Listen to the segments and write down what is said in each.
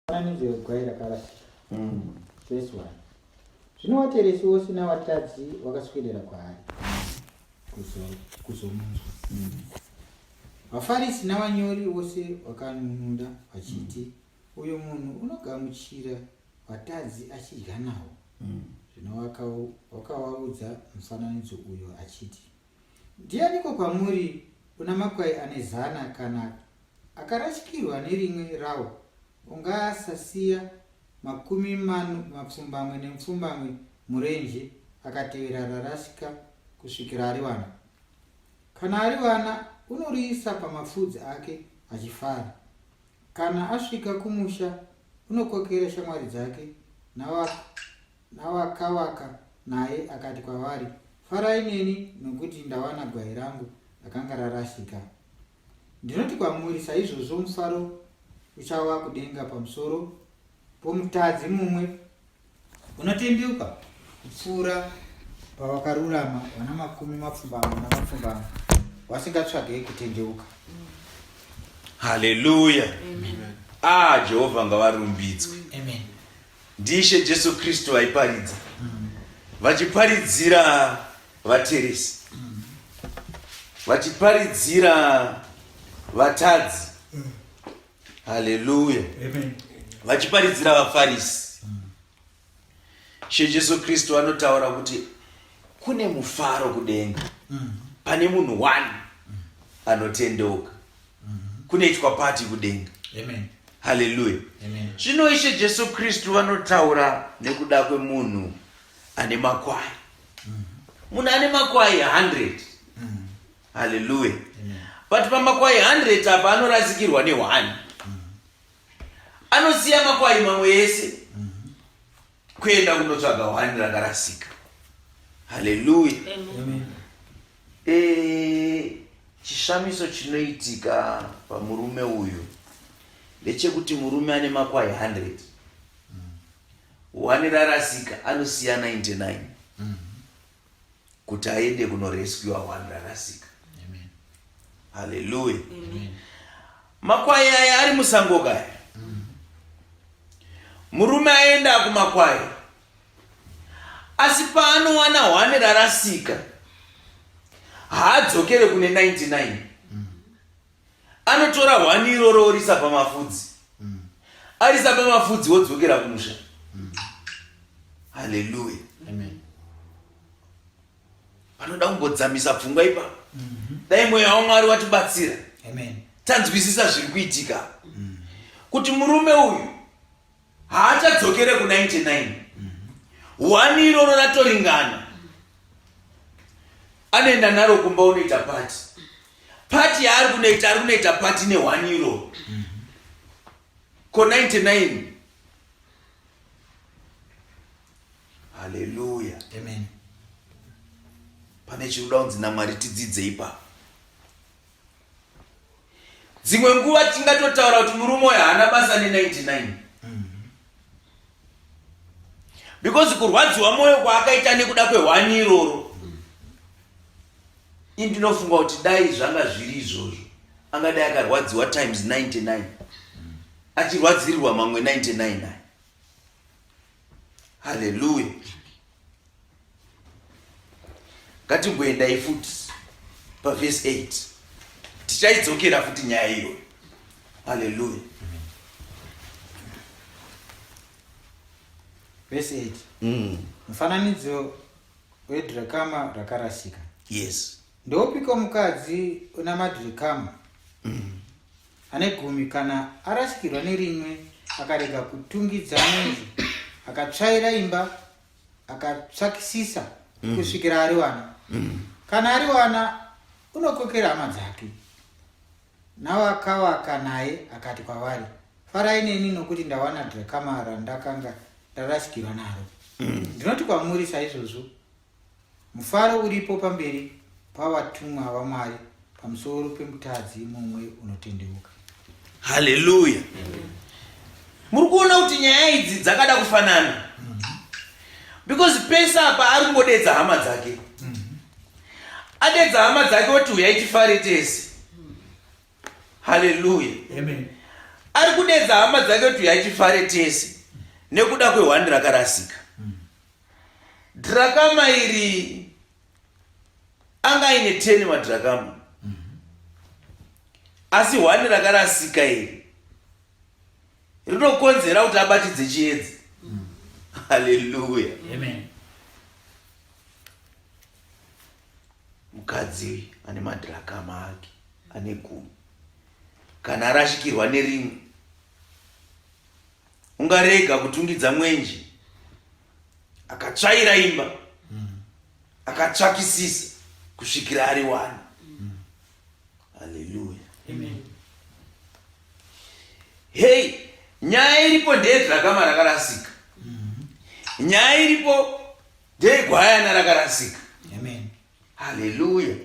Fananidzo yegwai rakarasika. Mm. Verse 1. Zvino wateresi wose navatadzi wakaswedera kwaari kuzo- kuzomunzwa. Mm. VaFarisi navanyori vose vakanun'una vachiti, Uyu munhu unogamuchira vatadzi achidya navo. Mm. Zvino wakau- wakavaudza mufananidzo uyo achiti, Ndianiko kwamuri una makwai ane zana kana akarashikirwa nerimwe rawo ungasasiya makumi mano mapfumbamwe nemupfumbamwe murenje akatevera rarashika kusvikira ariwana kana ariwana unoriisa pamafudzi ake achifara kana asvika kumusha unokokera shamwari dzake navako Navakavaka naye akati kwavari, Farai neni, nokuti ndawana gwai rangu rakanga rarasika. Ndinoti kwamuri, saizvozvo mufaro uchava kudenga pamusoro pomutadzi mumwe unotendeuka kupfuura pavakarurama vana makumi mapfumbamwe namapfumbamwe vasingatsvagei kutendeuka haleluya ah jehovha ngavarumbidzwe amen ndiIshe Jesu Kristu vaiparidza vachiparidzira vateresi vachiparidzira vatadzi haleluya vachiparidzira vafarisi she jesu kristu anotaura kuti kune mufaro kudenga pane munhu one anotendeuka kunoitwa pati kudenga haleluya zvino ishe jesu kristu vanotaura nekuda kwemunhu ane makwai mhm. munhu ane makwai 100 mhm. haleluya but pamakwai 100 apa anorasikirwa ne1 mhm. anosiya makwai mamwe ese kuenda kunotsvaga hwani ranga rasika haleluya eh, chishamiso chinoitika pamurume uyu ndechekuti murume ane makwai 100 hwani rarasika anosiya 99 mm. kuti aende kunorescua one rarasika haleluya makwai aya ari musango kaya murume aenda kumakwai asi paanowana hwani rarasika haadzokere kune 99 anotora hwani iroro orisa pamafudzi mm. arisa pamafudzi wodzokera kumusha mm. haleluya panoda kumbodzamisa pfungwa ipa mm -hmm. dai mweya wamwari watibatsira tanzwisisa zviri kuitika mm. kuti murume uyu haachadzokere ku 99 hwani iroro ratoringana anoenda naro kumba unoita pati pati yaari kunoita ari kunoita pati nehwani iroro ko 99 haleluya amen pane chinoda kunzi namwari tidzidze ipapo dzimwe nguva tingatotaura kuti murume uyo haana basa ne99 because kurwadziwa mwoyo kwaakaita nekuda kwehwani iroro indinofunga kuti dai zvanga zviri izvozvo angadai akarwadziwa times 99 achirwadzirirwa mamwe 99 naye haleluya ngatimboendai futi pavhesi 8 tichaidzokera futi nyaya iyoyo haleluya vhesi 8 mm. mufananidzo wedrakama rakarasika yes Ndoupiko mukadzi una madhirikamu ane gumi kana arasikirwa nerimwe akarega kutungidza mwenzi akatsvaira imba akatsvakisisa mm. kusvikira ari wana mm. kana ari wana unokokera hama dzake nawakawaka naye akati kwavari farai neni nokuti ndawana dhirakamara ndakanga ndarasikirwa naro mm. ndinoti kwamuri saizvozvo Mufaro uripo pamberi pavatumwa vaMwari pamusoro pemutadzi mumwe unotendeuka. Haleluya! Muri kuona kuti nyaya idzi dzakada kufanana because pese apa ari kungodedza hama dzake, adedza hama dzake oti huyai tifare tese. Haleluya! Ari kudedza hama dzake oti huyai tifare tese nekuda kwehwani rakarasika. Drakama iri anga aine teni madrakama asi hwani rakarasika iri rinokonzera kuti abatidze chiedzi haleluya mukadzi ane madrakama ake ane gumi kana arashikirwa nerimwe ungarega kutungidza mwenje akatsvaira imba akatsvakisisa kusvikira ari wani haleluya hei nyaya iripo ndeyedhrakama rakarasika nyaya iripo ndeyegwayana rakarasika haleluya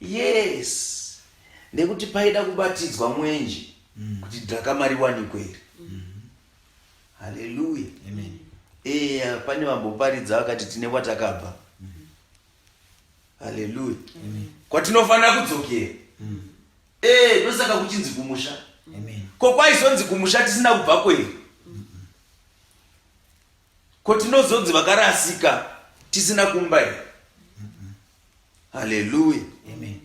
Yes, nekuti paida kubatidzwa mwenje mm. kuti dhakama riwanikwe iri. Mm. Haleluya. Amen. Eya, pane vamboparidza vakati tine kwatakabva. Mm. Haleluya. Amen. Kwatinofanira kudzokera. Mm. Eh, ndosaka kuchinzi kumusha. Amen. Ko kwaizonzi kumusha tisina kubva kweri? Ko tinozodzi vakarasika tisina kumba here? Haleluya. Amen.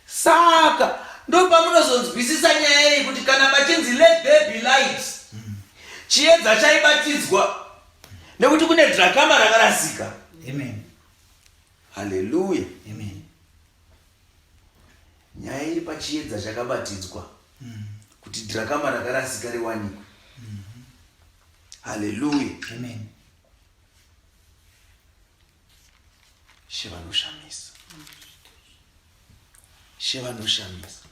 Saka ndopamunozonzwisisa nyaya iyi kuti kana pachinzi let there be light chiedza chaibatidzwa nekuti kune drakama rakarasika. Amen. Haleluya. Amen. Nyaya iri pachiedza chakabatidzwa kuti drakama rakarasika riwanikwe. Hallelujah. Amen. She vanoshamisa. She vanoshamisa.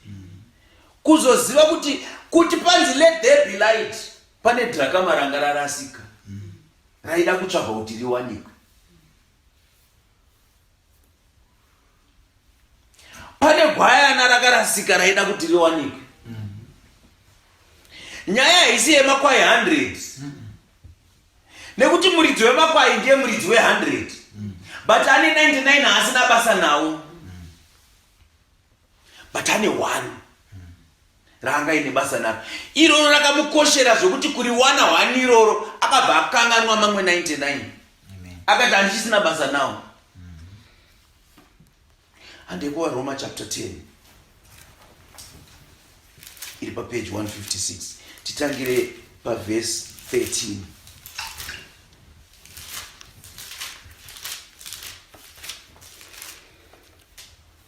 Kuzoziva kuti kuti panzi let there be light pane drakama ranga rarasika. Raida kutsvaga kuti riwanikwe. pane gwayana rakarasika raida kuti riwanikwe nyaya haisi yemakwai 100 nekuti muridzi wemakwai ndiye muridzi we100 but ane 99 haasina basa nawo but ane one raanga ine basa naro iroro rakamukoshera zvekuti kuri wana one iroro akabva akanganwa mamwe 99 akati handichisina basa nawo handekuwa roma chapter 10 iri papeji 156 titangire pavhesi 13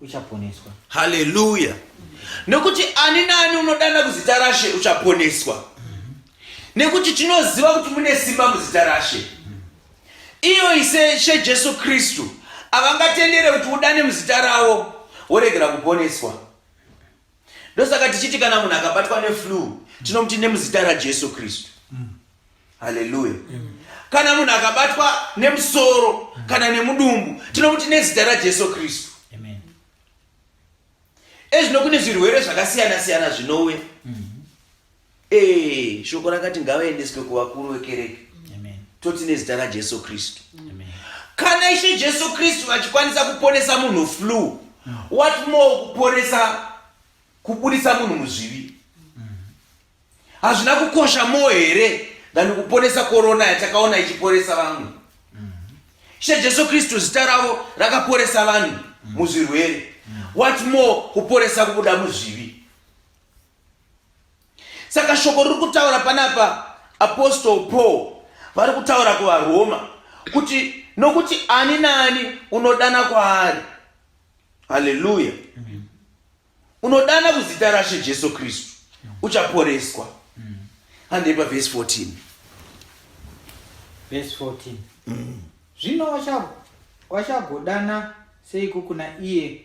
uchaponeswa. Haleluya! Nekuti ani naani unodana kuzita raShe uchaponeswa, nekuti tinoziva kuti mune simba muzita raShe. Iyo ise She Jesu Kristu avangatendere kuti udane muzita ravo woregera kuponeswa. ndosaka tichiti kana munhu akabatwa neflue tinomuti nemuzita rajesu kristu haleluya kana munhu akabatwa nemusoro kana nemudumbu tinomuti nezita rajesu kristu ezvino kune zvirwere zvakasiyana siyana zvinouya mm. Eh, shoko rakati ngavaendeswe kuvakuru vekereke toti nezita rajesu kristu kana ishe jesu kristu vachikwanisa kuponesa munhu flu what more kuponesa kubudisa munhu muzvivi hazvina kukosha mo here than kuponesa korona yatakaona ichiponesa vamwe ishe jesu kristu zita ravo rakaponesa vanhu muzvirwere what more kuponesa kubuda muzvivi saka shoko riri kutaura panapa apostol paul vari kutaura kuvaroma kuti nokuti ani naani unodana kwaari haleluya unodana kuzita rashe jesu kristu uchaporeswa handei pavhesi 14 vhesi 14 zvino wachagodana seiko kuna iye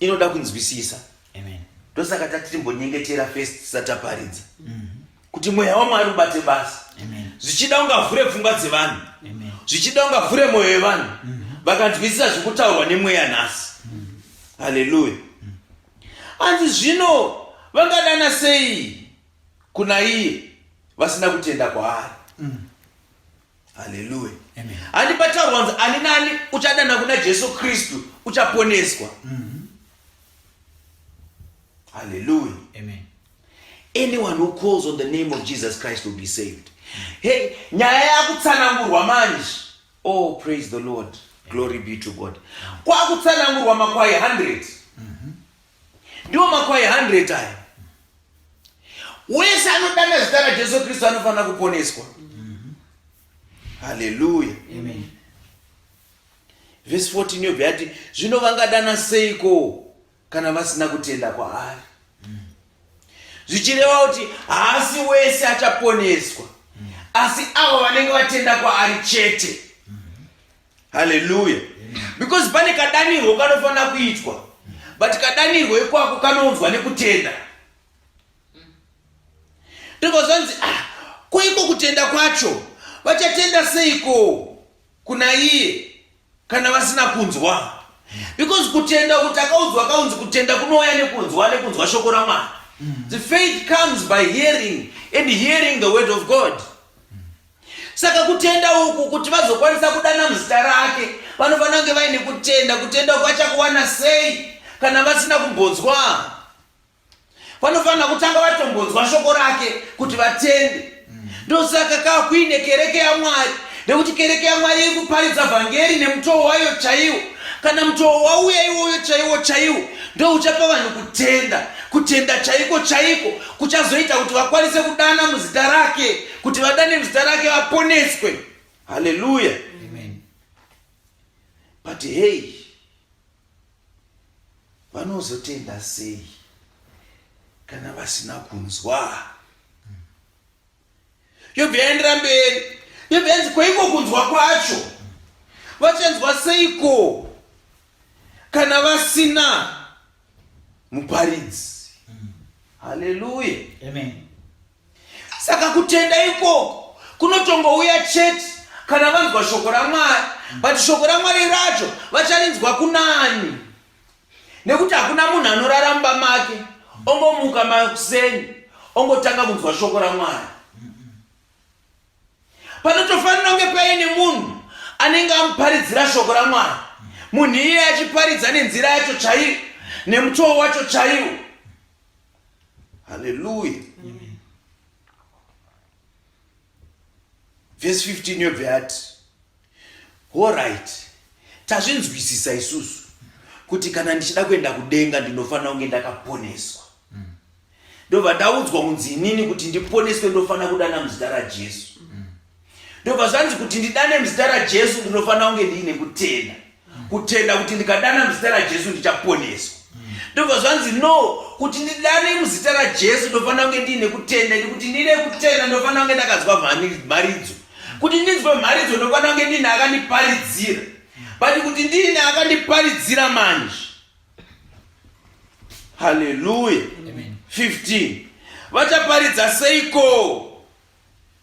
inoda kunzwisisa ndosaka tatimbonyengetera first tisataparidza mm-hmm. kuti mweya wamwari ubate basa zvichida ungavhure pfungwa dzevanhu zvichida ungavhure mwoyo yevanhu mm-hmm. vakanzwisisa zvekutaurwa nemweya nhasi mm-hmm. haleluya hanzi zvino vangadana sei kuna iye vasina kutenda kwaari mm. haleluya handi pataurwa kunzi ani nani uchadana kuna jesu kristu uchaponeswa mm-hmm. haleluya anyone who calls on the name of jesus christ will be saved hey nyaya yakutsanangurwa manje oh praise the lord glory be to god kwakutsanangurwa makwai 100 mm -hmm. Ndiwo makwai 100 aya. Wese anodana zita raJesu Kristu anofanira kuponeswa. Haleluya. Amen. Verse 14 yobva yati zvino vangadana seiko kana vasina kutenda kwaari. Zvichireva kuti haasi wese achaponeswa asi avo vanenge vatenda kwaari chete. haleluya because pane kadanirwo kanofanira kuitwa but kadanirwo ikwako kanounzwa nekutenda ndobva zvanzi ah, koiko kutenda kwacho vachatenda seiko kuna iye kana vasina kunzwa because kutenda kuti akaudzwa akaunzi kutenda kunouya nekunzwa nekunzwa shoko ramwari mm. the faith comes by hearing and hearing the word of god Saka kutenda uku kuti vazokwanisa kudana muzita rake, vanofanira kunge vaine kutenda. Kutenda uku vachakuwana sei kana vasina kumbonzwa? Vanofanira kutanga vatombonzwa shoko rake kuti vatende. Ndosaka ka kuine kereke yaMwari, nekuti kereke yaMwari iri kuparidza vhangeri nemutoo wayo chaiwo. Kana mutoo wauya iwoyo chaiwo chaiwo, ndouchapa vanhu kutenda. Kutenda chaiko chaiko kuchazoita kuti vakwanise kudana muzita rake. kuti vadane zita rake vaponeswe haleluya but hei vanozotenda sei kana vasina kunzwa yobva yaendera mberi yobva yanzi kwaiko kunzwa kwacho vachanzwa seiko kana vasina muparidzi haleluya amen saka kutenda ikoko kunotongouya chete kana vanzwa shoko ramwari but shoko ramwari racho vacharinzwa kunani nekuti hakuna munhu anorara mumba make ongomuka makuseni ongotanga kunzwa shoko ramwari panotofanira kunge paine munhu anenge amuparidzira shoko ramwari munhu iye achiparidza nenzira yacho chaiyo nemutowo wacho chaiwo haleluya vhesi 15 yobve yati horit tazvinzwisisa isusu kuti kana ndichida kuenda kudenga ndinofanira kunge ndakaponeswa ndobva ndaudzwa kunzi inini kuti ndiponeswe ndofanira kudana muzita rajesu ndobva zvanzi kuti ndidane muzita rajesu ndinofanira kunge ndiine kutenda kutenda kuti ndikadana muzita rajesu ndichaponeswa ndobva zvanzi no kuti ndidane muzita rajesu ndofanira kunge ndiine kutenda nekuti ndiine kutenda ndofanira kunge ndakanzwa mharidzo kuti ndinzwe mharidzo ndofanira kunge ndiine akandiparidzira but kuti ndiine akandiparidzira manje haleluya 15 vachaparidza seiko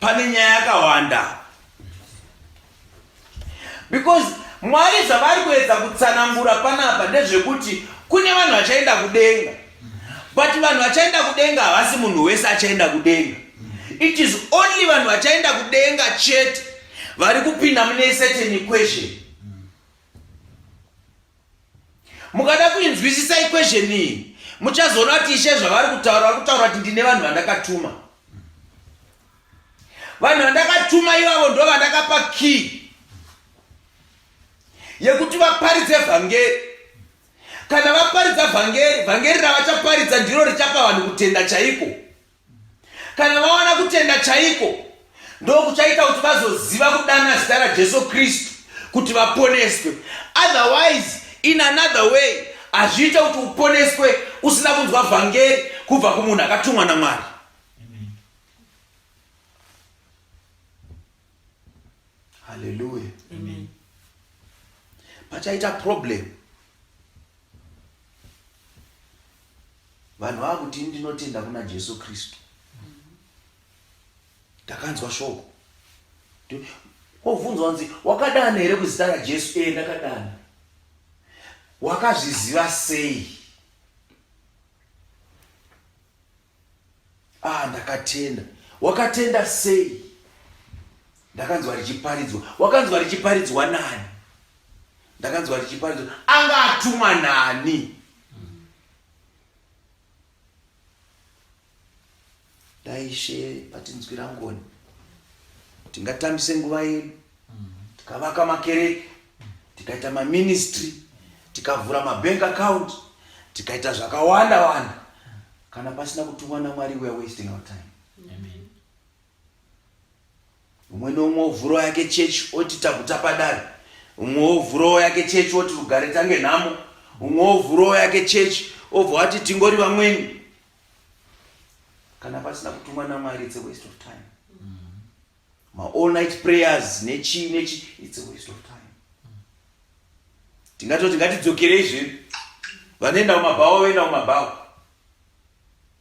pane nyaya yakawanda because mwari zvavari kuedza kutsanangura panapa ndezvekuti kune vanhu vachaenda kudenga but vanhu vachaenda kudenga havasi munhu wese achaenda kudenga it is only vanhu vachaenda kudenga chete vari kupinda mune certain equation mukada kuinzwisisa equation iyi muchazoona kuti ishe zvavari kutaura vari kutaura kuti ndine vanhu vandakatuma vanhu vandakatuma ivavo ndo vandakapa key yekuti vaparidze vhangeri kana vaparidza vhangeri vhangeri ravachaparidza ndiro richapa vanhu kutenda chaiko Kana vawana kutenda chaiko, ndokuchaita kuti vazoziva kudana zita raJesu Kristu kuti vaponeswe. Otherwise, in another way, hazviite kuti uponeswe usina kunzwa vhangeri kubva kumunhu akatumwa naMwari. Hallelujah. Amen. Pachaita problem. vanhu vava kuti ini ndinotenda kuna jesu kristu ndakanzwa shoko wobvunzwa nzi wakadana here kuzita rajesu ee ndakadana wakazviziva sei ah ndakatenda wakatenda sei ndakanzwa richiparidzwa wakanzwa richiparidzwa nani ndakanzwa richiparidzwa anga atumwa nani dai ishe patinzwira ngoni tingatambise nguva yedu tikavaka makereke tikaita maministry tikavhura mabank account tikaita zvakawanda wanda kana pasina kutumwa namwari weare wasting our time Amen. umwe neumwe ovhurawo yake chechi oti taguta padare umwe ovhurawo yake chechi oti rugare tange nhamo umwe ovhurawo yake chechi obva wati tingori vamweni kana pasina kutumwa namwari its a waste of time ma all night prayers nechii nechii its a waste of time tingatoti ngatidzokerei zvedu vanoenda kumabhawa voenda kumabhawa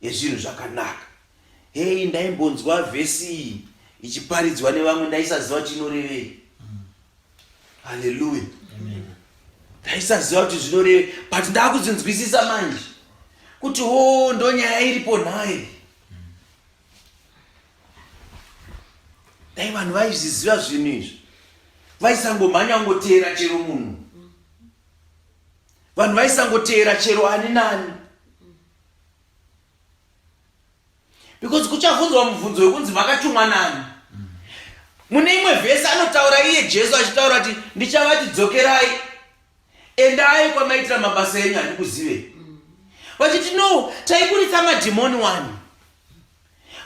yezvinhu zvakanaka. Hei, ndaimbonzwa vhesi iyi ichiparidzwa nevamwe ndaisaziva chinorevei. Haleluya! Ndaisaziva kuti zvinorevei, but ndakudzinzwisisa manje kuti wo oh, ndonyaya iripo nhai. Dai vanhu vaizviziva zvinhu izvi vaisangomhanya kungoteera chero munhu vanhu vaisangoteera chero ani nani because kuchabvunzwa mubvunzo wekunzi makatumwa nani mune imwe vhesi anotaura iye jesu achitaura kuti ndichavati dzokerai endai kwamaitira mabasa enyu handikuzivei vachiti no taikuritsa madhimoni wani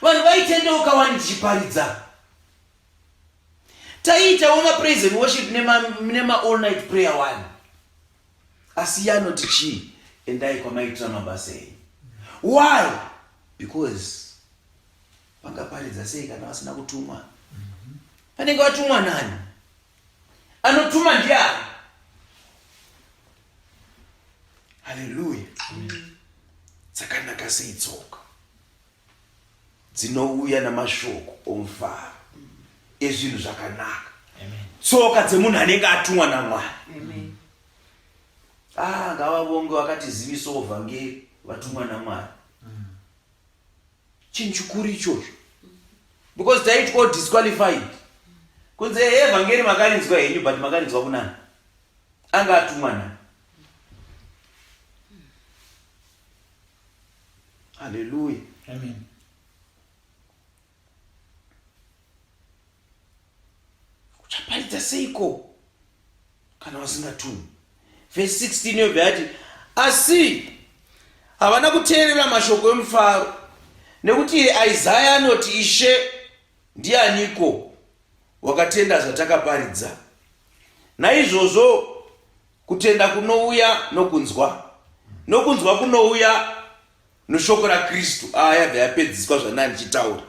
vanhu vaitendeuka wani tichiparidza taiitawo mapraise and worship nema all night prayer wani asi iye anoti chii endai kwamaitira mabasa enyu why because vangaparidza sei kana vasina kutumwa vanenge vatumwa nani anotuma ndiani haleluya dzakanaka sei tsoka dzinouya namashoko omufaro ezvinhu zvakanaka tsoka dzemunhu anenge atumwa namwari ah, ngavavonge vakatizivisawo vhangeri vatumwa namwari mm. chinhu chikuru ichocho because taitwa disqualified kunze evhangeri makarinzwa henyu but makarinzwa kunani anga atumwa nani Hallelujah. Amen. Uchaparidza seiko kana vasingatumi? Verse 16 yobva yati asi havana kuteerera mashoko emufaro nekuti Isaya anoti ishe ndianiko wakatenda zvatakaparidza naizvozvo Kutenda kunouya nokunzwa, nokunzwa kunouya noshoko raKristu. Aya ah, yabva yapedziswa zvandanga ndichitaura.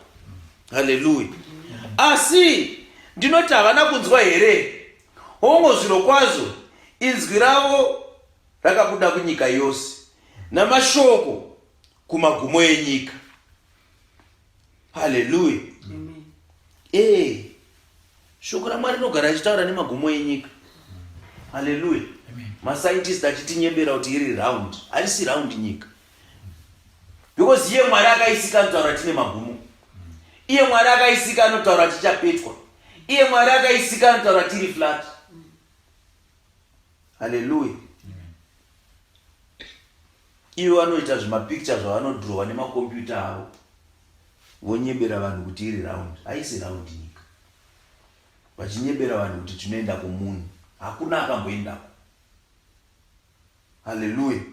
Haleluya! Asi ndinoti havana kunzwa here? Hongo, zviro kwazvo inzwi ravo rakabuda kunyika yose namashoko kumagumo enyika. haleluya ee shoko ramwari rinogara achitaura nemagumo enyika haleluya mascientist achitinyebera kuti iri round harisi round nyika because iye mwari akaisika anotaura tine magumo iye mwari akaisika anotaura tichapetwa iye mwari akaisika anotaura tiri flat haleluya Ivo vanoita zvimapicture zvavanodhurowa nemakombiyuta avo vonyebera vanhu kuti iri round. Haisi round nyika. Vachinyebera vanhu kuti tinoenda kumuni. Hakuna akamboendako. Hallelujah.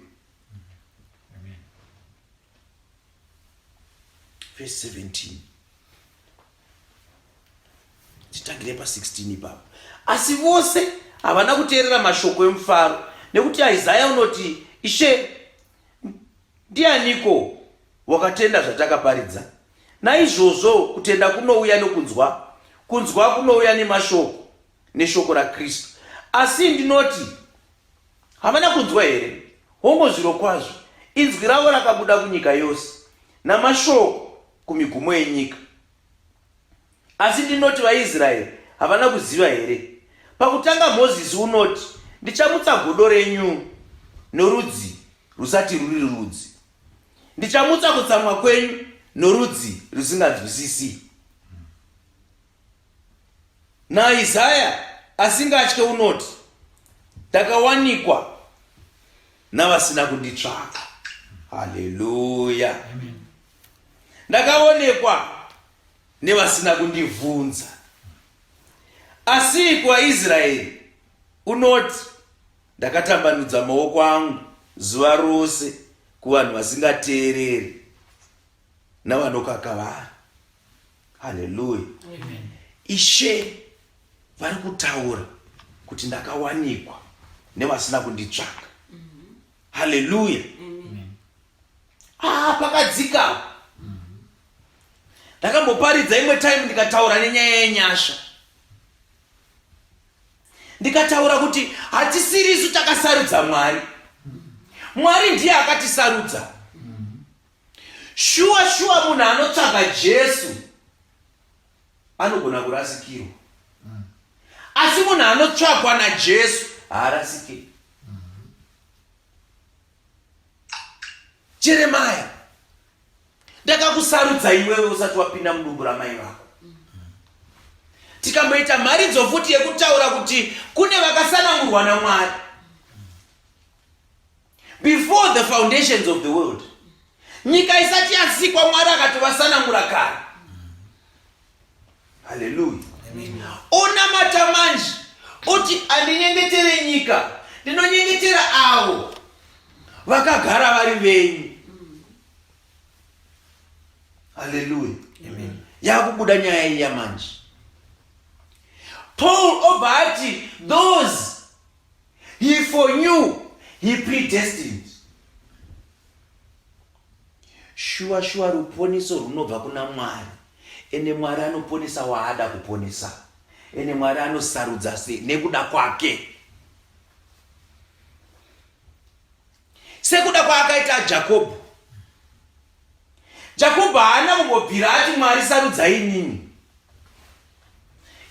verse 17 titangire pa 16 ipapo asi vose havana kuteerera mashoko emufaro nekuti isaya unoti ishe ndianiko wakatenda zvatakaparidza naizvozvo kutenda kunouya nokunzwa kunzwa kunouya nemashoko neshoko rakristu asi ndinoti Hamana kunzwa here? Hongu zvirokwazvo, inzwi ravo rakabuda kunyika yose, namashoko kumigumo yenyika. Asi ndinoti vaIsraeri havana kuziva here? Pakutanga Mozisi unoti, Ndichamutsa godo renyu norudzi rusati ruri rudzi, ndichamutsa kutsamwa kwenyu norudzi rusinganzwisisi. NaIsaya asingatye unoti, Ndakawanikwa navasina kunditsvaka. Haleluya! Ndakaonekwa nevasina kundivhunza. Asi kuvaIsraeri unoti, Ndakatambanudza maoko angu zuva rose kuvanhu vasingateereri. navanokakavara haleluya ishe vari kutaura kuti ndakawanikwa nevasina kunditsvaka mm-hmm. haleluya ah, pakadzikawa mm-hmm. ndakamboparidza imwe time ndikataura nenyaya yenyasha ndikataura kuti hatisiri isu takasarudza mwari mm-hmm. mwari ndiye akatisarudza Shuwa shuwa munhu anotsvaga Jesu anogona kurasikirwa. Mm. Asi munhu anotsvagwa naJesu haarasike. Mm. Jeremaya ndakakusarudza iwewe usati wapinda mudumbu ramai vako tikamboita mharidzo futi yekutaura kuti kune vakasanangurwa namwari before the foundations of the world nyika isati yasikwa mwari akati vasanangura kare haleluya onamata manje oti andinyengetere nyika ndinonyengetera avo vakagara vari venyu haleluya yakubuda nyaya iya manje paul obva ati those He foreknew, he predestined. Shuwa shuwa ruponiso runobva kuna Mwari. Ende Mwari anoponesa waada kuponesa. Ende Mwari anosarudza se nekuda kwake. Sekuda kwaakaita Jacob. Jakobho haana kumbobvira ati Mwari sarudzai inini.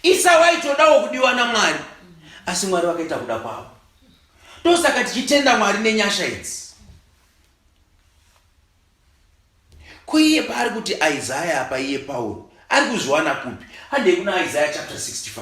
Isau aitodawo kudiwa naMwari, asi Mwari vakaita kuda kwavo. Ndosaka tichitenda Mwari nenyasha idzi. Ko iye paari kuti Isaya apa iye Pauro ari kuzviwana kupi? Handei kuna Isaya chapter 65.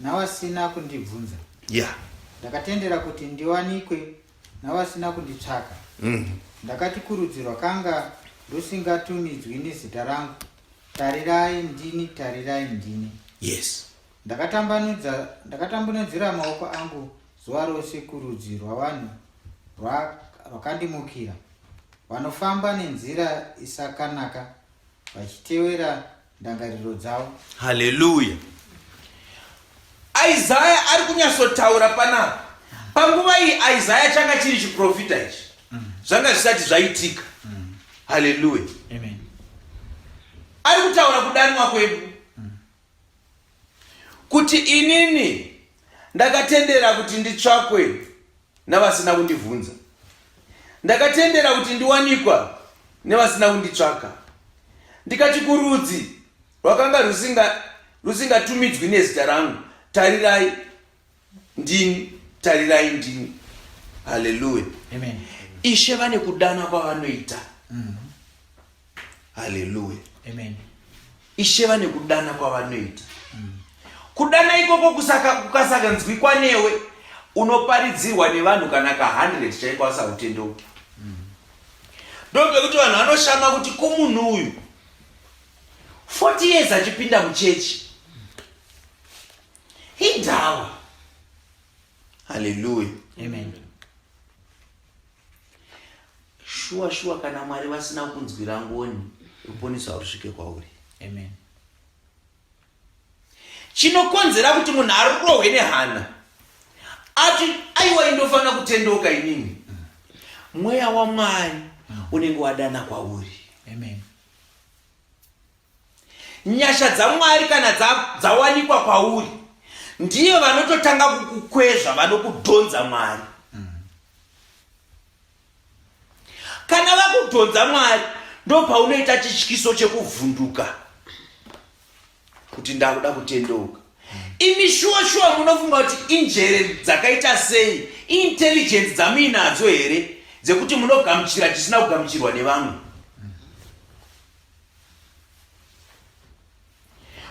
Nawasina kundibvunza. Yeah. Ndakatendera kuti ndiwanikwe nawasina kunditsvaka. Mm. Ndakati kurudzirwa kanga rusingatumidzwi nezita rangu. Tarirai ndini, tarirai ndini. Yes. Ndakatambanudza ndakatambanudzira maoko angu zuva rose kurudzi rwavanhu rwakandimukira. Vanofamba nenzira isakanaka vachitevera ndangariro dzavo haleluya isaya ari kunyatsotaura panapa panguva iyi isaya changa chiri chiprofita ichi zvanga zvisati zvaitika haleluya ari kutaura kudanwa kwedu kuti inini ndakatendera kuti nditsvakwe navasina kundibvunza ndakatendera kuti ndiwanikwa nevasina kunditsvaka ndikati kurudzi rwakanga rusingatumidzwi nezita rangu tarirai ndini tarirai ndini haleluya ishe vane kudana kwavanoita mm-hmm. haleluya ishe vane kudana kwavanoita mm. kudana ikoko kukasakanzwikwa newe unoparidzirwa nevanhu kana ka 100 chaiko asakutendeuki mm. ndopekuti vanhu vanoshama kuti ko munhu uyu 40 years achipinda muchechi Hidhawa. Hallelujah. Amen. Shuwa shuwa kana Mwari vasina kunzwira ngoni ruponeso harusvike kwauri. Amen. Chinokonzera kuti munhu arohwe nehana ati aiwa indofanira kutendeuka inini mweya wamwari unenge wadana kwauri Nyasha dzaMwari kana dzawanikwa dza kwauri ndiyo vanototanga kukukwezva vanokudhonza Mwari. Kana vakudhonza Mwari ndopaunoita chityiso chekuvhunduka kuti ndakuda kutendeuka. Imi shuwa shuwa munofunga kuti injere dzakaita sei intelligence dzamuinadzo here dzekuti munogamuchira chisina kugamuchirwa nevamwe?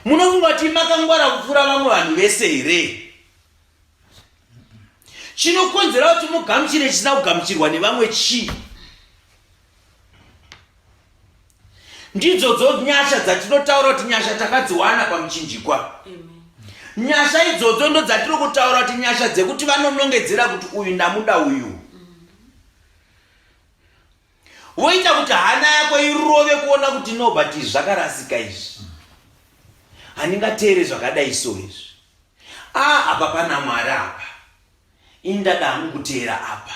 munofunga kuti makangwara kupfuura vamwe vanhu vese here chinokonzera kuti mugamuchire chisina kugamuchirwa nevamwe chii ndidzodzo nyasha dzatinotaura kuti nyasha takadziwana pamuchinjikwa nyasha idzodzo ndo dzatiri kutaura kuti nyasha dzekuti vanonongedzera kuti uyu ndamuda uyu Woita kuti hana yako irove kuona kuti no but izvi zvakarasika izvi. Handingateere zvakadai so izvi. Ah apa pana Mwari apa. Ini ndada hangu kuteera apa.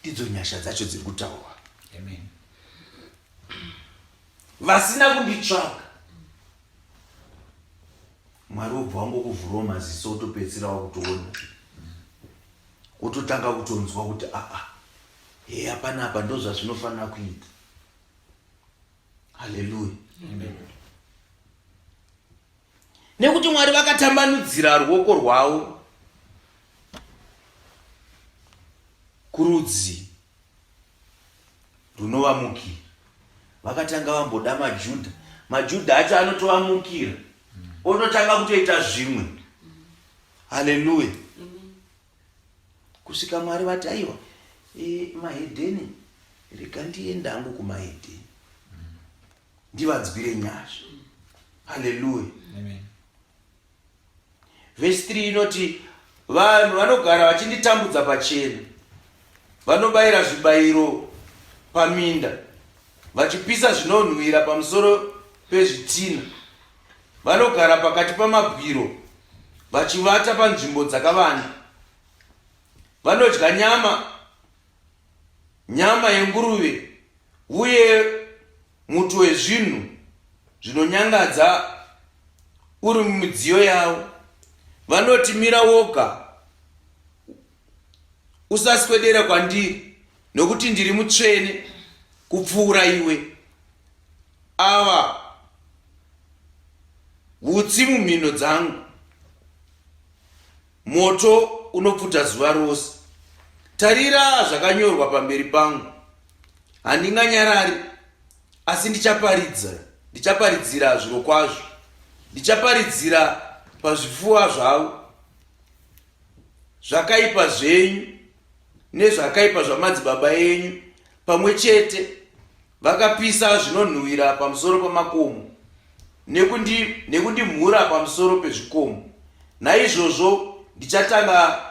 Ndidzo nyasha dzacho dziri kutaurwa. Amen. Vasina kunditsvaga. Mwari wobva wangokuvhurawo maziso utopedzisira wakutoona. Wototanga kutonzwa kuti aa. Ah, ah. heya panapa ndozvazvinofanira kuita haleluya nekuti mwari vakatambanudzira ruoko rwavo kurudzi runovamukira vakatanga vamboda majudha majudha acho anotovamukira ototanga kutoita zvimwe haleluya kusvika mwari vati aiwa e, mahedheni rega ndienda hangu kumahedheni ndivanzwire nyasha haleluya vhesi 3 inoti vanhu vanogara vachinditambudza pachena vanobayira zvibayiro paminda vachipisa zvinonhuhwira pamusoro pezvitina Vanogara pakati pamabwiro vachivata panzvimbo dzakavanda. Vanodya nyama, nyama yenguruve uye muto wezvinhu zvinonyangadza uri mumidziyo yavo. Vanoti mira woga usaswedera kwandiri nokuti ndiri mutsvene kupfuura iwe ava utsi mumhino dzangu moto unopfuta zuva rose tarira zvakanyorwa pamberi pangu handinganyarari asi ndichaparidza ndichaparidzira zviro kwazvo ndichaparidzira pazvifuwa zvavo zvakaipa zvenyu nezvakaipa zvamadzibaba enyu pamwe chete vakapisa zvinonhuhwira pamusoro pamakomo nekundimhura nekundi pamusoro pezvikomo naizvozvo ndichatanga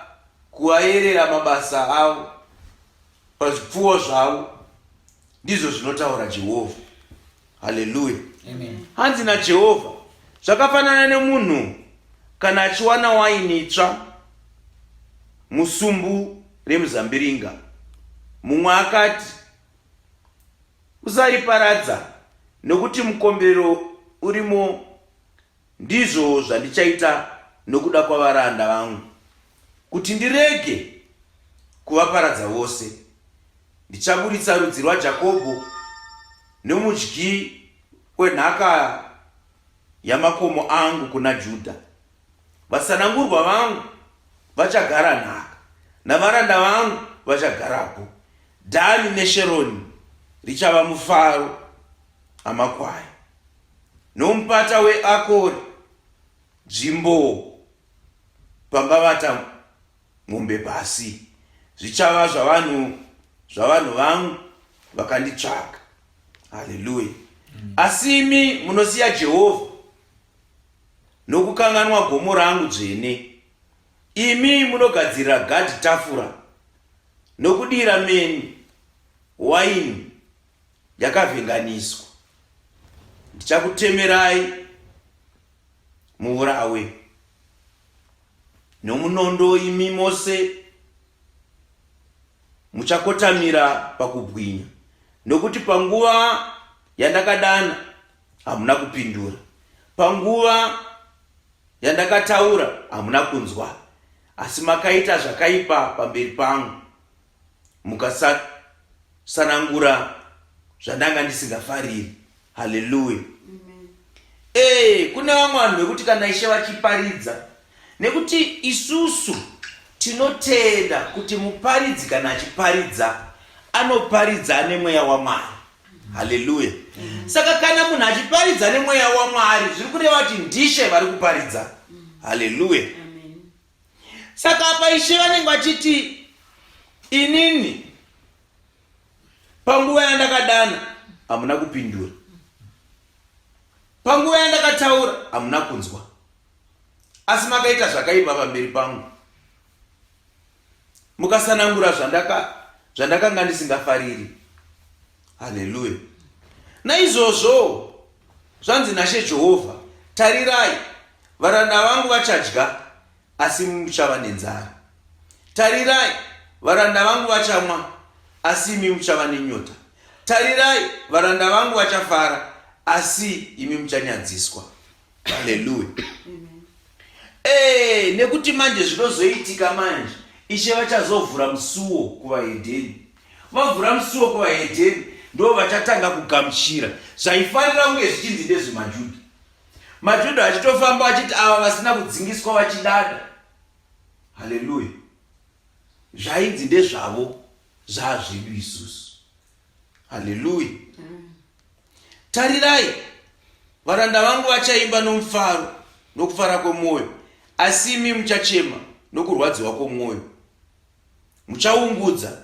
kuvaerera mabasa avo pazvipfuwo zvavo ndizvo zvinotaura jehovha haleluya hanzi najehovha zvakafanana nemunhu kana achiwana waini itsva musumbu remuzambiringa mumwe akati usariparadza nokuti mukombero urimo Ndizvo zvandichaita nokuda kwavaranda vangu, kuti ndirege kuvaparadza vose. Ndichaburitsa rudzi rwaJakobho nomudyi wenhaka yamakomo angu kuna Judha. Vasanangurwa vangu vachagara nhaka, navaranda vangu vachagarapo. Dhani neSheroni richava mufaro amakwai. nomupata weAkori, nzvimbo pangavata mombe pasi, zvichava zvavanhu zvavanhu vangu vakanditsvaga. Haleluya! Mm. Asi imi munosiya Jehovha nokukanganwa gomo rangu dzvene, imi munogadzirira Gadhi tafura nokudira meni waini. yakavhenganiswa ndichakutemerai muurawe nomunondo imi mose muchakotamira pakubwinya nokuti panguva yandakadana hamuna kupindura panguva yandakataura hamuna kunzwa asi makaita zvakaipa pamberi pangu mukasanangura zvandanga ndisingafariri haleluya ee eh, kune vamwe vanhu vekuti kana ishe vachiparidza nekuti isusu tinotenda kuti muparidzi kana achiparidza anoparidza ane mweya wamwari haleluya saka kana munhu achiparidza nemweya wamwari zviri kureva kuti ndishe vari kuparidza haleluya saka apa ishe vanenge vachiti inini panguva yandakadana hamuna kupindura panguva yandakataura hamuna kunzwa asi makaita zvakaipa pamberi pangu mukasanangura zvandaka zvandakanga ndisingafariri haleluya naizvozvowo zvanzi nashe jehovha tarirai varanda vangu vachadya asi imi muchava nenzara tarirai varanda vangu vachamwa asi imi muchava nenyota tarirai varanda vangu vachafara asi imi muchanyadziswa haleluya ee eh, nekuti manje zvinozoitika manje ishe vachazovhura musuwo kuvahedheni Vavhura musuwo kuvahedheni ndo vachatanga kugamuchira zvaifanira kunge zvichinzi ndezve majudha majudha achitofamba achiti ava vasina kudzingiswa vachidada haleluya zvainzi ndezvavo zvaazvedu isusu haleluya mm. tarirai varanda vangu vachaimba nomufaro nokufara kwemwoyo asi imi muchachema nokurwadziwa kwomwoyo muchaungudza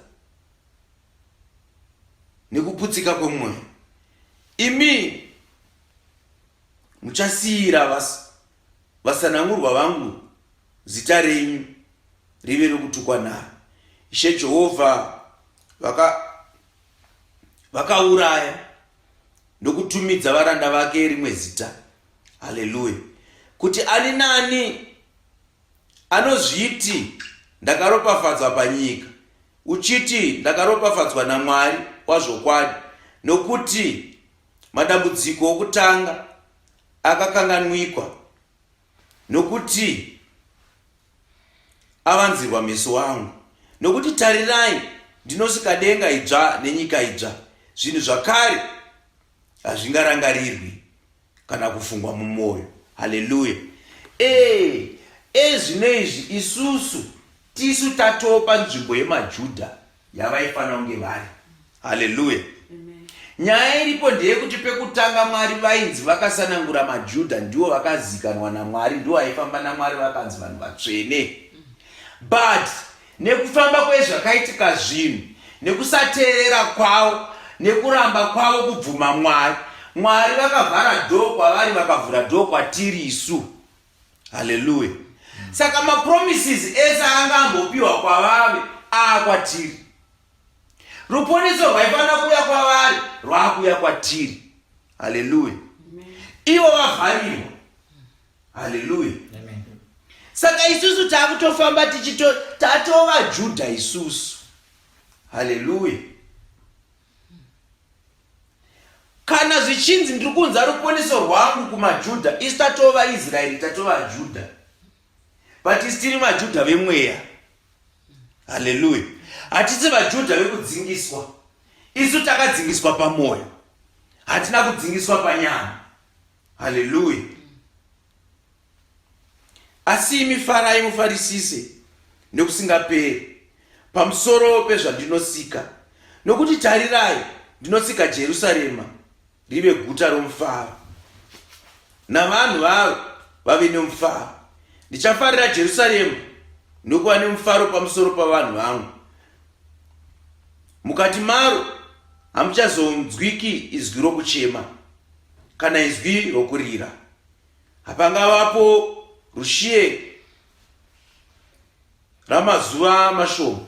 nekuputsika kwemwoyo imi muchasiyira vas, vasanangurwa vangu zita renyu rive rokutukwa naro ishe jehovha vakauraya vaka ndokutumidza varanda vake rimwe zita haleluya kuti ani nani Anozviti ndakaropafadzwa panyika, uchiti ndakaropafadzwa naMwari wazvokwadi, nokuti madambudziko okutanga akakanganwikwa, nokuti avanzirwa meso angu. Nokuti tarirai, ndinosika denga idzva nenyika idzva, zvinhu zvakare hazvingarangarirwi. kana kufungwa mumwoyo haleluya ee ezvino izvi isusu tisu tatopa nzvimbo yemajudha yavaifanira kunge vari haleluya nyaya iripo ndeyekuti pekutanga mwari vainzi vakasanangura majudha ndiwo vakazikanwa namwari ndiwo aifamba namwari vakanzi vanhu vatsvene but Nekufamba kwezvakaitika zvinhu, nekusateerera kwavo, nekuramba kwavo kubvuma Mwari, Mwari vakavhara dhoo kwavari vakavhura dhoo kwatiri isu. Haleluya! Saka mapromises ese anga ambopiwa kwavave aa kwatiri. Ruponeso rwaifanira kuuya kwavari rwakuuya kwatiri. Haleluya! Ivo vavharirwa haleluya saka isusu taakutofamba tichito tatova judha isusu haleluya kana zvichinzi ndiri kunza rukoniso rwangu kumajudha isu tatova israeri tatova judha but isi tiri majudha vemweya haleluya hatisi vajudha vekudzingiswa isu takadzingiswa pamwoyo hatina kudzingiswa panyama haleluya asi imi farai mufarisise nekusingaperi pamusoro pezvandinosika nokuti tarirai ndinosika jerusarema rive guta romufaro navanhu varo vave nemufaro ndichafarira jerusarema nokuva nemufaro pamusoro pavanhu vangu mukati maro hamuchazonzwiki izwi rokuchema kana izwi rokurira. Hapangavapo rushiye ramazuva mashoma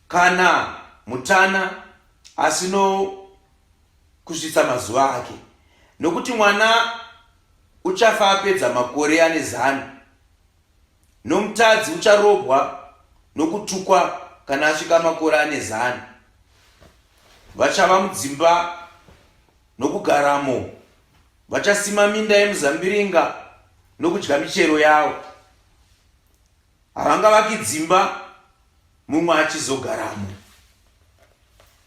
kana mutana asino kusvitsa mazuva ake, nokuti mwana uchafa apedza makore ane zana. nomutadzi ucharobwa nokutukwa kana asvika makore ane zana. Vachava mudzimba nokugaramo, vachasima minda yemuzambiringa nokudya michero yawo. Havangavaki dzimba mumwe achizogaramo.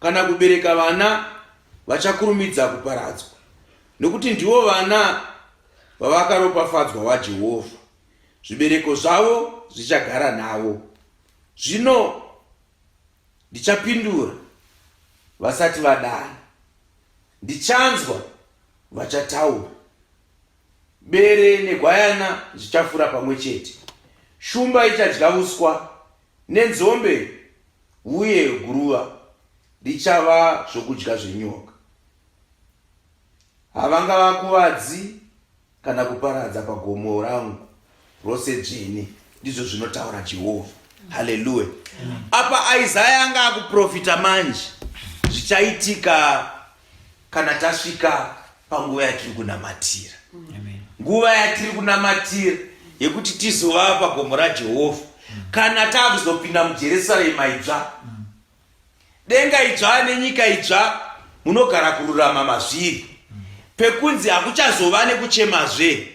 kana kubereka vana vachakurumidza kuparadzwa, nokuti ndivo vana vavakaropafadzwa waJehovha, zvibereko zvavo zvichagara navo. Zvino ndichapindura vasati vadana, ndichanzwa vachataura. Bere negwayana zvichafura pamwe chete. Shumba ichadya uswa nenzombe uye guruva richava zvokudya zvenyoka. Havangavakuvadzi kana kuparadza pagomo rangu, rose dzvene ndizvo zvinotaura jehovha haleluya apa isaya anga akuprofita manje zvichaitika kana tasvika panguva yatiri kunamatira nguva yatiri kunamatira yekuti tizova pagomo rajehovha kana taakuzopinda mujerusarema idzva mm. denga idzva nenyika idzva munogara kururama mazviri pekunzi hakuchazova nekuchemazve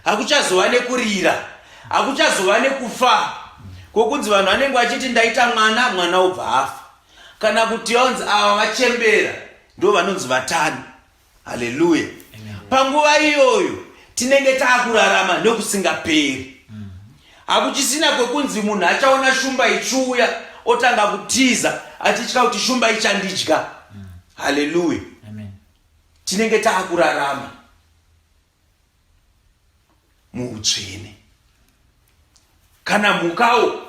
hakuchazova nekurira hakuchazova nekufa kwokunzi vanhu vanenge vachiti ndaita mwana mwana obva afa kana kuti vanzi ava vachembera ndo vanonzi vatani haleluya panguva iyoyo tinenge taakurarama nekusingaperi hakuchisina kwekunzi munhu achaona shumba ichiuya otanga kutiza achitya kuti shumba ichandidya haleluya tinenge taakurarama muutsvene kana mhukawo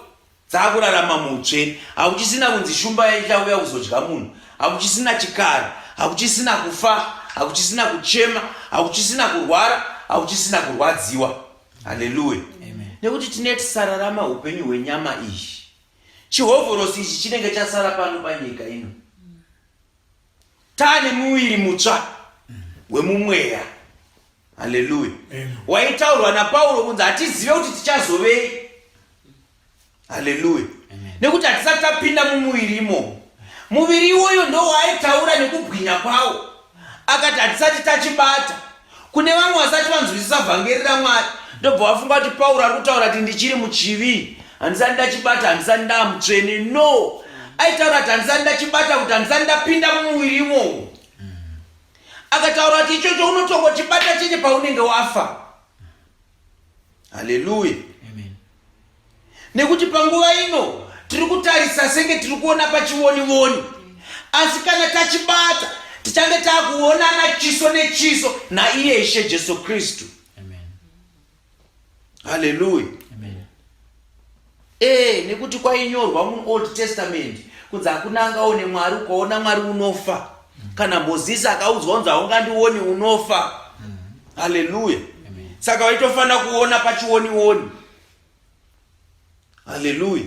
dzakurarama muutsvene hakuchisina kunzi shumba yaichauya kuzodya munhu hakuchisina chikara hakuchisina kufa hakuchisina kuchema hakuchisina kurwara hakuchisina kurwadziwa haleluya nekuti tine tisararama upenyu hwenyama izhi chihovhorosi ichi chinenge chasara pano panyika ino Tane muviri mutsva wemumweya. Haleluya. Waitaurwa naPauro kunzi hatizive kuti tichazovei. Haleluya. Nekuti hatisati tapinda mumuviri imomo. Muviri iwoyo ndowaaitaura nekubwinya kwawo. Akati hatisati tachibata. Kune vamwe vasati vanzwisisa vhangeri raMwari ndobva vafunga kuti Pauro ari kutaura kuti ndichiri muchivi, handisati ndachibata, handisati ndaamutsvene. No, aitaura kuti handisati ndachibata kuti handisati ndapinda mumuviri imomo. Akataura kuti ichocho unotongochibata chete paunenge wafa. haleluya nekuti panguva ino tiri kutarisa senge tiri kuona pachivonivoni asi kana tachibata tichange taakuonana chiso nechiso naiye ishe jesu kristu haleluya ee nekuti kwainyorwa muold testament kunzi hakuna angaone mwari ukaona mwari unofa kana mozisi akaudzwa unzi haungandioni unofa haleluya saka waitofanira kuona pachionioni haleluya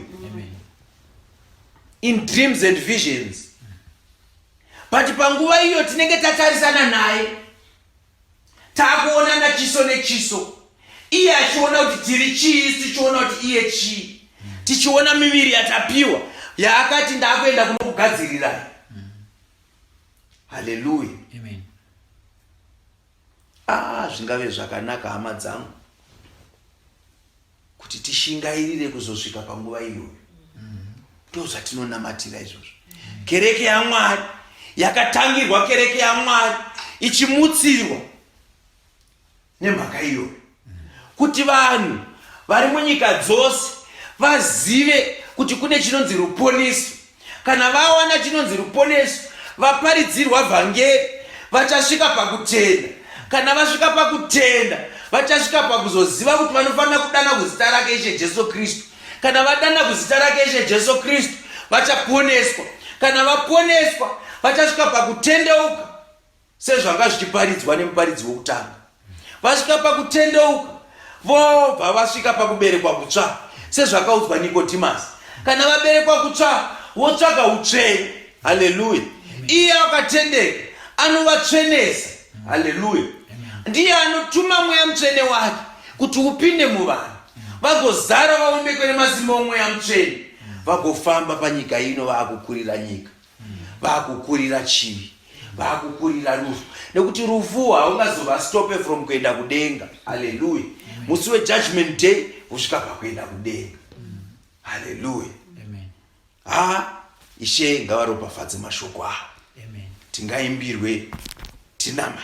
in dreams and visions but panguva iyo tinenge tatarisana naye takuonana chiso nechiso iye achiona kuti tiri chii isu tichiona kuti iye chii tichiona miviri yatapiwa yaakati ndakuenda kunokugadzirirai haleluya ah, zvingave zvakanaka hama dzangu kuti tishingairire kuzosvika panguva iyoyo ndozvatinonamatira izvozvo kereke yamwari yakatangirwa kereke yamwari ichimutsirwa nemhaka iyoyo kuti vanhu vari munyika dzose vazive kuti kune chinonzi ruponesi Kana vawana chinonzi ruponeso, vaparidzirwa vhangeri vachasvika pakutenda. Kana vasvika pakutenda, vachasvika pakuzoziva kuti vanofanira kudana kuzita rake Ishe Jesu Kristu. Kana vadana kuzita rake Ishe Jesu Kristu, vachaponeswa. Kana vaponeswa, vachasvika pakutendeuka. Sezvanga zvichiparidzwa nemuparidzi wokutanga, vasvika pakutendeuka vobva vasvika pakuberekwa kutsva, sezvakaudzwa Nikodhimasi. Kana vaberekwa kutsva, votsvaka utsvene. Haleluya! Iye akatendeka anovatsvenesa. Haleluya! Ndiye anotuma mweya mutsvene wake kuti upinde muvanhu vagozara vaonekwe nemasimba omweya mutsvene vagofamba panyika ino vaakukurira nyika vakukurira chivi vakukurira rufu nekuti rufu haungazovastope from kuenda kudenga haleluya musi wejudgment day kusvika pakuenda kudenga haleluya ha ishe ngavaropafadze mashoko avo tingaimbirwe tinamai